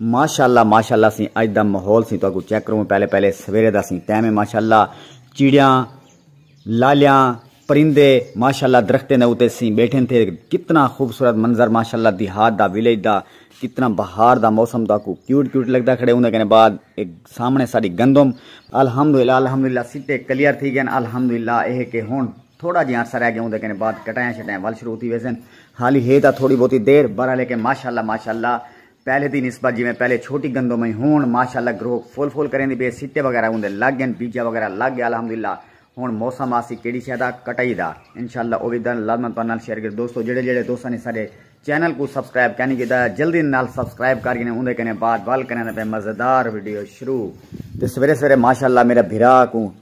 ماشاءاللہ ماشاءاللہ سیں اج دا ماحول سیں تہاکوں چیک کروں پہلے پہلے سویرے دا سیں ٹائم ہے ماشاءاللہ چیڑیاں لالیاں پرندے ماشاءاللہ درختیں دے اوتے سیں بیٹھن تھے کتنا خوبصورت منظر ماشاءاللہ دیہات دا ویلیج دا کتنا بہار دا موسم تہاکوں کیوٹ کیوٹ لگدا کھڑے ہوندے کنے بعد ایک سامنے ساری گندم الحمدللہ الحمدللہ سیٹے کلیئر تھی گئے الحمدللہ اے کہ ہن تھوڑا جیاں عرصہ رہ گیا ہوندے کنے بعد کٹائیں شٹائیں ول شروع تھی ویسن حالی ہے تاں تھوڑی بہتی دیر برا لیکن ماشاءاللہ ماشاءاللہ پہلے دی نسبت جیویں پہلے چھوٹی گندم ہئی ہن ماشاءاللہ گروک فل فل کریندی پئی ہے سٹے وغیرہ اوندے لگ گن بیجا وغیرہ لگ گیا الحمدللہ ہن موسم آسی کیڑی شے دا کٹائی دا انشاءاللہ او وی دن لازمن تہاڈے نال شیئر کیتے دوستو جیڑھے جیڑھے دوستاں نے ساڈے چینل کوں سبسکرائب کینی کیتا جلدی نال سبسکرائب کر گھنے اوندے کنے بعد ول کریندے پئے مزیدار ویڈیو شروع تے سویرے سویرے ماشاءاللہ میرے بھرا کوں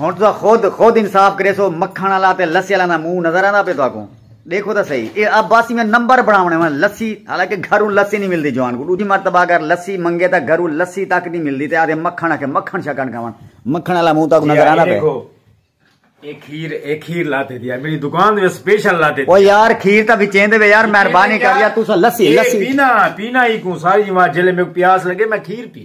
ہݨ تساں خود خود انصاف کریسو مکھݨ آلا تے لسی آلا دا منہ نظر آندا پئے تہاکوں ݙیکھو تاں سہی اے عباسی میں نمبر بݨاوݨے ہن لسی حالانکہ گھروں لسی نی ملدی جوان کوں ݙوجھی مرتبہ اگر لسی منگے تاں گھروں لسی تک نی ملدی تے آہدے مکھݨ آکھے مکھݨ شکݨ کھاوݨ مکھݨ آلا منہ تہاکوں نظر آندا پئے اے کھیر اے کھیر لاتے دیا میری دکان دے سپیشل لاتے دیا او یار کھیر تا بچین دے وے یار مہربانی کر یا تو سا لسی لسی پینا پینا ہی کوں ساری جماعت جلے میں پیاس لگے میں کھیر پی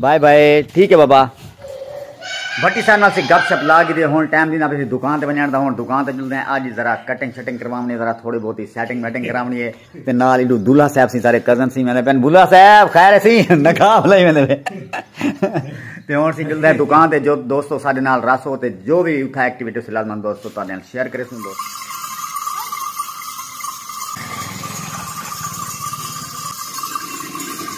بائے بائے ٹھیک ہے بابا بھٹی صاحب ناسی گپ شپ لا گی دے ہون ٹائم دینا پسی دکان تے بنیان دا ہون دکان تے جلدے ہیں آج ذرا کٹنگ شٹنگ کرواونی ذرا تھوڑی بہت ہی سیٹنگ میٹنگ کرواونی ہے تے نال ایڈو دلہ صاحب سی سارے کزن سی میں نے پہن بلہ صاحب خیر سی نکاب لئی میں نے تے ہون سی جلدے ہیں دکان تے جو دوستو سارے نال رس ہو تے جو بھی اتھا ایکٹیویٹی سے لازمان دوستو تا دین شیئر کرے سن دوستو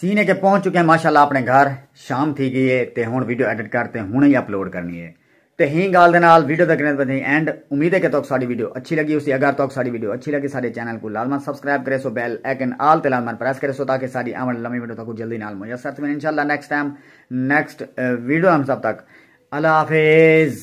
سینے کے پہنچ چکے ہیں ماشاءاللہ اپنے گھر شام تھی گئی ہے تے ہن ویڈیو ایڈٹ کر تے ہن ہی اپلوڈ کرنی ہے تے ہی گال دے نال ویڈیو تک رہندے تھیں اینڈ امید ہے کہ توک ساڈی ویڈیو اچھی لگی ہوسی اگر توک ساڈی ویڈیو اچھی لگی ساڈے چینل کو لازمن سبسکرائب کرے سو بیل ایکن آل تے لازمن پریس کرے سو تاکہ ساڈی آون لمی ویڈیو تک جلدی نال میسر تھیں انشاءاللہ نیکسٹ ٹائم نیکسٹ ویڈیو ہم سب تک اللہ حافظ